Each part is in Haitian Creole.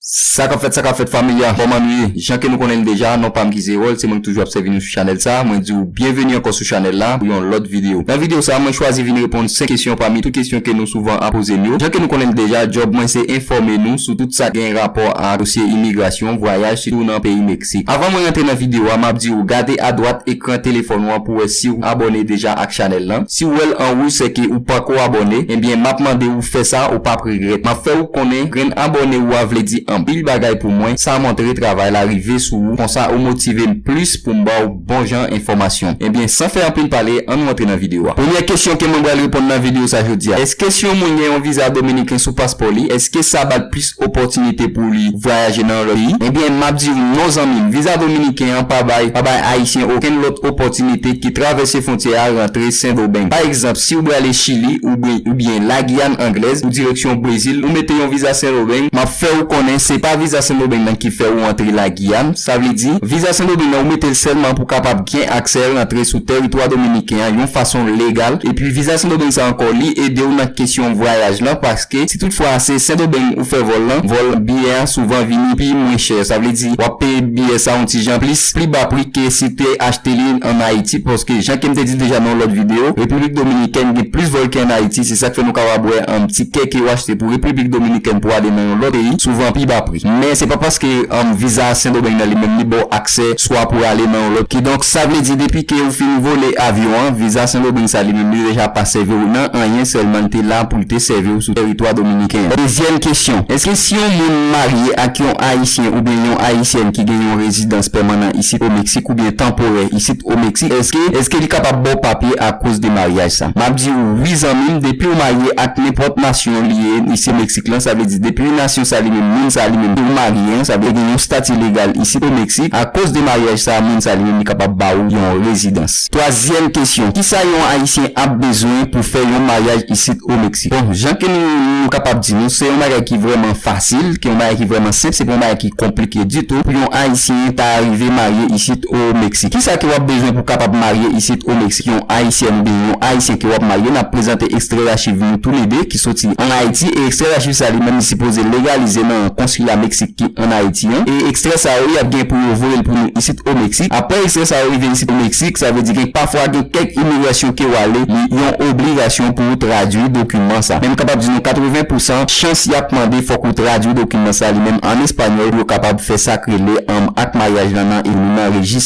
Sa kap fèt sa kap fèt familia kòman nou ye jan ke nou konnen li deja non pam ki Zerol se mwen ki toujou ap sèvi nou sou chanèl sa mwen diw byenveni ankò sou chanèl la pou yon lòt video nan video sa mwen chwazi vin reponn 5 kesyon pami tout kesyon ke nou souvan ap poze m yo jan ke nou konnen li deja djòb mwen se enfòme nou sou tout sa gen rapò ak dosye imigrasyon vwayaj sitou nan peyi Si. Avan mwen rantre nan video a map diw gade a dwat ekran telefòn ou an pou wè siw abòne deja ak chanèl lan, siw wèl an wouj sèke ou panko abòne, enbyen map mande ou fè sa ou pap regrèt, map fè ou konnen grenn abòne ou a vle di anpil bagay pou mwen, sa montre travay la rive sou ou konsa ou motivem plis poum baw. bon jan enfòmasyon. Ebyen san fè anpil pale an nou antre nan video a. Premyè kesyon ke mwen bral reponn nan video sa jodi a. Eske si yon moun gen yon viza dominiken sou paspò li eske sa bal plis opòtinite pou li vwayaje nan yon lòt peyi? Ebyen map diw non zanmim viza dominiken an pa bay pa bay ayisyen okenn lòt opòtinite ki travèse fwontyè a rantre sendomeng. Pa egzanp siw brale chili oubyen oubyen la giyàn anglèz ou direksyon brezil ou mete yon viza sendomeng map fèw konnen se pa viza sendomeng nan ki fè ou antre la Ian, sa vle di, viza sendomeng ou mete l sèlman pou kapab gen aksè rantre sou tèritwa dominiken an yon fason legal, epi viza sendomeng sa ankò li ede w nan kesyon vwayaj lan paske si tout fwa se sendomeng ou fè vòl lan, vòl biyè an souvan vini pi mwen chè, sa vle di wap peye biyè sa yon ti jan plis, pli ba pri ke si w te achte li an Ayiti paske jan kem te di deja nan yon lòt video, repiblik dominikèn gen plis vòl ke an Ayiti. Se sa k fè nou kapab wè anm ti kè ke yo achte pou Repiblik Dominikèn pou ale nan yon lòt peyi souvan an pi ba pri. Men se pa paske anm viza a Sendomeng nan li menm li ba w aksè swa pou ale nan yon lòt kidonk sa vle di depi ke ou fin vole avyon an viza Sendomeng sa li menm li deja pa sèvi w nan anyen sèlman l te la pou l te sèvi w sou tèritwa Dominiken an. Dezyèm kesyon, Èske si yon moun marye ak yon Ayisyen oubyen yon Ayisyèn ki gen yon rezidans pèmanan isit o Meksik oubyen tanporè isit o Meksik èske èske li kapab ba w papye akoz de maryaj sa? Map diw wi zanmim depiw marye ak nenpòt nasyon liye ni se mexique lan sa vle di depi nasyon sa li menm moun sa li menm ke ou marye an sa vle gen yon stati legal isit o mexique a koz de maryaj sa moun sa li menm li kapab ba ou yon rezidans. Twazyèm kesyon kisa yon ayisyen ap bezwen pou fè yon maryaj isit o mexique bon jan ke nou nou kapab di nou se yon bagay ki vrèman fasil ke yon bagay ki vrèman senp se pa yon bagay ki konplike ditou pou yon ayisyen ta arive marye isit o mexique kisa ke wap bezwen pou kapab marye isit o mexique. Si yon Ayisyèn oubyen yon Ayisyen ke wap marye nap prezante ekstrè rachiv nou tou le 2 ki soti an Ayiti e ekstrè rachiv sa li menm li sipoze legalize nan Konsila Meksik ki an Ayiti an e ekstrè sa yo yap gen pou yo voye l pou nou isit o Meksik. Aprè ekstrè sa yo rive isit o Meksik sa vle di gen pafwa gen kèk imigrasyon ke wale li yon obligasyon pou ou tradwi dokiman sa men m kapab di nou 80 pou san chans yap mande fòk ou tradwi dokiman sa li menm an Espanyòl pou yo kapab fè sak rele anm ak maryaj lan nan nan rejis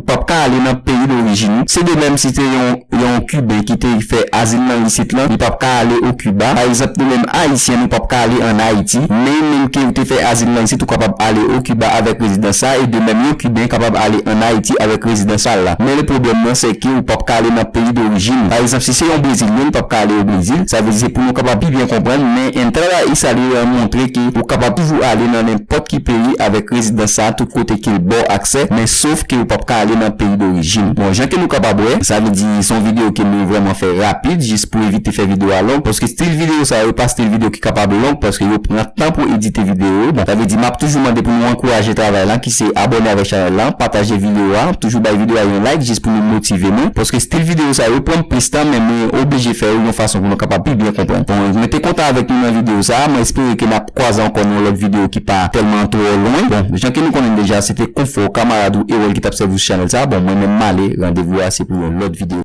ou pap ka ale nan peyi dorijin ou, se de menm si te yon yon kiben ki te fè azil nan isit lan, li pap ka ale o Kiba, pa egzanp nou menm ayisyen nou pap ka ale an Ayiti, men menm ke ou te fè azil nan isit ou kapab ale o Kiba avèk rezidans sa e de menm yon kiben kapab ale an Ayiti avèk rezidans sa la, men le pwoblèm lan se ke ou pap ka ale nan peyi dorijin ou, pa egzanp si se yon brezilyen li pap ka ale o Brezil, sa vle di se pou nou kapab pi byen konprann, men entrada y salir an montre ke ou kapab toujou ale nan nenpòt ki peyi avèk rezidans sa tout kote ke l ba w aksè, men. sof ke ou pap ka ale nan peyi dorijin. Bon, jan ke nou kapab wè, sa vle di se yon video ke nou vrèman fè rapid jis pou evite fè video a long, paske stil video sa yo pa stil video ki kapab long paske yo pran tan pou edite video yo. Bon, sa vle di map toujou mande pou nou ankouraje travay lan ki se abòne avèk chanèl lan, pataje video a, toujou bay video a yon like jis pou nou motive nou, paske stil video sa yo pranm plis tan men mwen oblije fè yo yon fason pou nou kapab pi byen konprann. Bon, mwen te kontan avèk nou nan video sa, mwen espere ke nap. kwaze ankò nan yon lòt videyo ki pa tèlman twò lwen. Bon, jan ke nou konnen deja, se te Konfò, kamarad ou Erol ki t ap sèvi w sou chanèl sa a. Bon, mwen menm m ale, randevou a se pou yon lòt videyo.